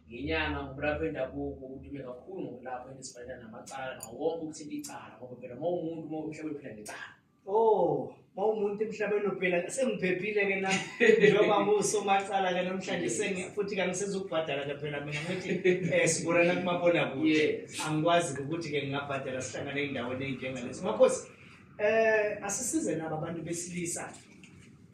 ngenyanga ngumlaphi wendabuko udume kakhulu ngokulapha into ezifanelana namacala nawo wonke ukuthinta icala ngoba phela uma umuntu uma umhlaba uphila ngecala Oh, mawumuntu emhlabeni uphila sengiphephile ke na njengoba ngusomacala ke namhlanje sengi futhi kangisezokubhadala ke phela mina ngithi eh siborana kumabona kude Yes. angikwazi ukuthi ke ngingabhadala sihlangane endaweni enjengalezi makhosi eh asisize nabo abantu besilisa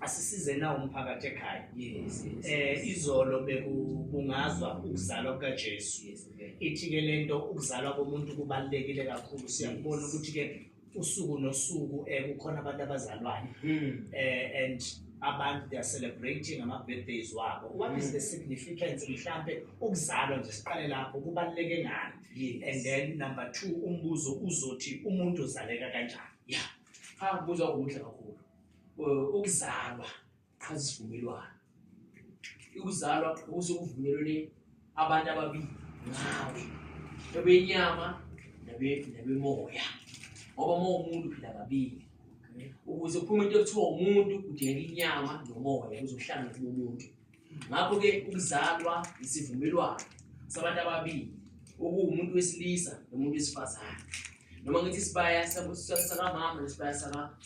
asisize na umphakathi ekhaya yes, yes, eh yes. izolo bekubungazwa ukuzalwa kukaJesu yes, okay. ithi ke lento ukuzalwa komuntu kubalekile kakhulu siyakubona ukuthi ke usuku nosuku eh kukhona abantu abazalwayo hmm. eh and abantu they are celebrating ama birthdays wabo what is the hmm. significance mhlambe ukuzalwa nje siqale lapho kubaleke ngani yes. and then number 2 umbuzo uzothi umuntu uzaleka kanjani yeah ha ah, buza ukuthi kakhulu ukuzalwa qhaza isivumelwano ukuzalwa okusokuvumelwene abantu ababili ngawe ebenyama nabemoya ngoba uma umuntu phila kabili ukuze kuphume into ekuthiwa umuntu kudingeka inyama nomoya kuzohlangana kumuntu ngakho-ke ukuzalwa isivumelwano sabantu ababili okuwumuntu wesilisa nomuntu wesifazane noma ngithi isibaya sakamama nesibaya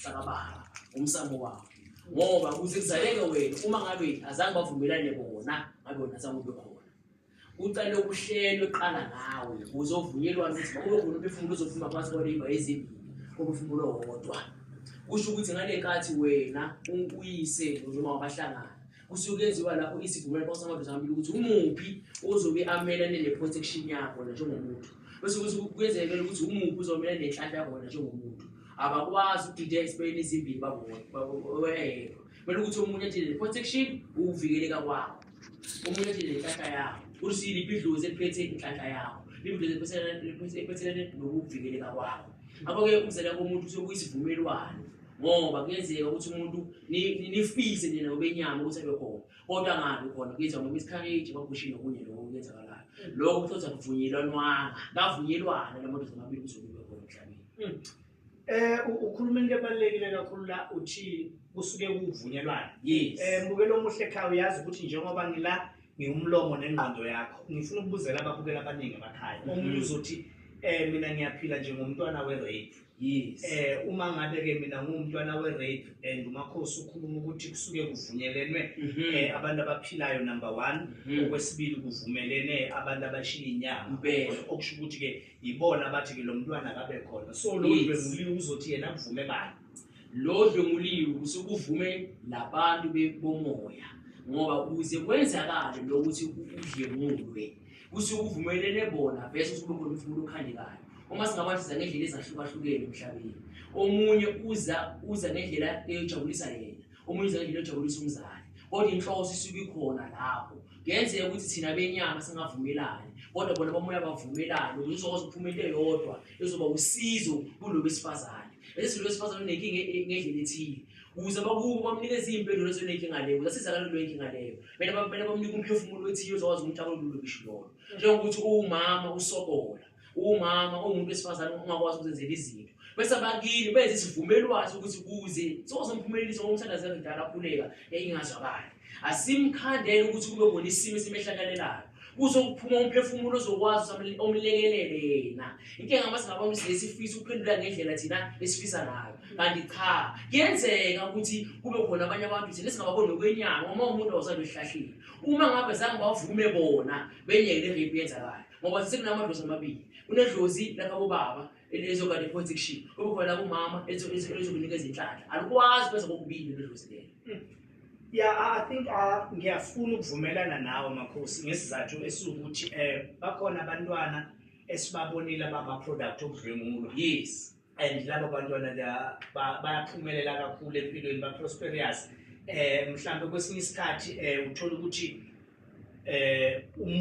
sakababa umsamo wabo ngoba kuze kuzaleke wena uma ngabe azange bavumelane bona ngabe wona azange ube khona Ucela ukuhlelwe qala ngawe uzovunyelwa ukuthi kube khona umphefumulo uzophuma phansi kwaleyimba ezimbili umphefumulo wodwa kusho ukuthi ngale nkathi wena uyise noma wabahlangana kusuke kuyenziwa lapho isivumelwano phakathi kwamadoda amabili ukuthi umuphi ozobe amelane ne-protection yakho na njengomuntu bese kuthi kuyenzekela ukuthi umuphi uzomelane nenhlanhla yakho wena njengomuntu abakwazi ukudida ezibhekeni ezimbili babodwa Kumele ukuthi omunye athele protection ukuvikeleka kwawo. Omunye athele inhlahla yawo. Ukuthi liphi idlozi eliphethe inhlahla yawo. Liphi idlozi eliphethelene nokuvikeleka kwawo. Ngakho-ke ukuzela komuntu kusuke kuyisivumelwano ngoba kuyenzeka ukuthi umuntu nifise nina obenyama ukuthi abe khona kodwa angabi khona kuyenzeka ngoba isikhareji bagushe nokunye lokho kuyenzakalayo lokho kuthothi akuvunyelwanwanga kavunyelwana la madoda amabili kuzokuba khona emhlabeni hmm. Eh ukhuluma into ebalekile kakhulu la uthi kusuke kuvunyelwana. Yes. Eh mbukelo omuhle ekhaya uyazi ukuthi njengoba ngila ngiwumlomo nengqondo yakho ngifuna ukubuzela ababukela abaningi abakhaya. Mhm. Omunye uzothi eh mina ngiyaphila njengomntwana we rape. Yes. Eh uma ngabe ke mina ngumntwana we rape and umakhosi ukhuluma ukuthi kusuke kuvunyelene mhm. eh abantu abaphilayo number 1 mhm. okwesibili kuvumelene abantu abashiya inyama okusho ukuthi ke yibona abathi ke lo mntwana akabe khona so lo Yes. dlwenguliwe uzothi yena kuvume bani lo dlwenguliwe kusuke uvume labantu be- bomoya ngoba kuze kwenzakale lokuthi udlengulwe kusuke uvumelene bona vese usuke khona ukuthi umuntu okhandekayo uma singabasiza ngendlela ezahlukahlukene emhlabeni omunye uza uza ngendlela eyojabulisa yena uma uyizela into ejabulisa umzali kodwa inhloso isuke ikhona lapho kuyenzeka ukuthi thina benyama singavumelani kodwa bona bamoya bavumelane ukuthi uzokwazi ukuphuma into eyodwa ezoba usizo kulo besifazane lesi silo besifazane unenkinga e-, ngendlela ethile ukuze bakubo bamnikeze iy'mpendulo ezonenkinga leyo zasizakala leyo nkinga leyo kumele bamnike umphefumulo othile ozokwazi ukuthi akululukisho lolo njengokuthi uwumama usokola umama umuntu wesifazane ungakwazi ukuzenzela izinto bese abakini benza isivumelwano sokuthi kuze sozomphumelelisa ngomthandazi ngidala akhuleka yayingazwakali asimkhandele ukuthi kube khona isimo esimehlakalelayo kuzokuphuma umphefumulo ozokwazi omlekelele yena inkinga uma singabantu silesifisa ukuphendula ngendlela thina esifisa ngayo kanti cha kuyenzeka ukuthi kube khona abanye abantu thina singababoni ngokwenyanga uma umuntu awusabe ehlahlile uma ngabe zange bavume bona benyeke le rape yenzakala ngoba sekunamadlozi amabili kunedlozi lakabobaba elizokade protection kube khona lakumama elizokunika izinhlanhla alikwazi kwenza kokubili ledlozi lelo hmm. ya i think ah, ngiyafuna ukuvumelana nawe makhosi ngesizathu esiwukuthi um bakhona abantwana esibabonile abama-product okudlwengulwa yes and laba bantwana bayaphumelela kakhulu empilweni ba-prosperous um mhlawumbe kwesinye isikhathi um uthole ukuthi um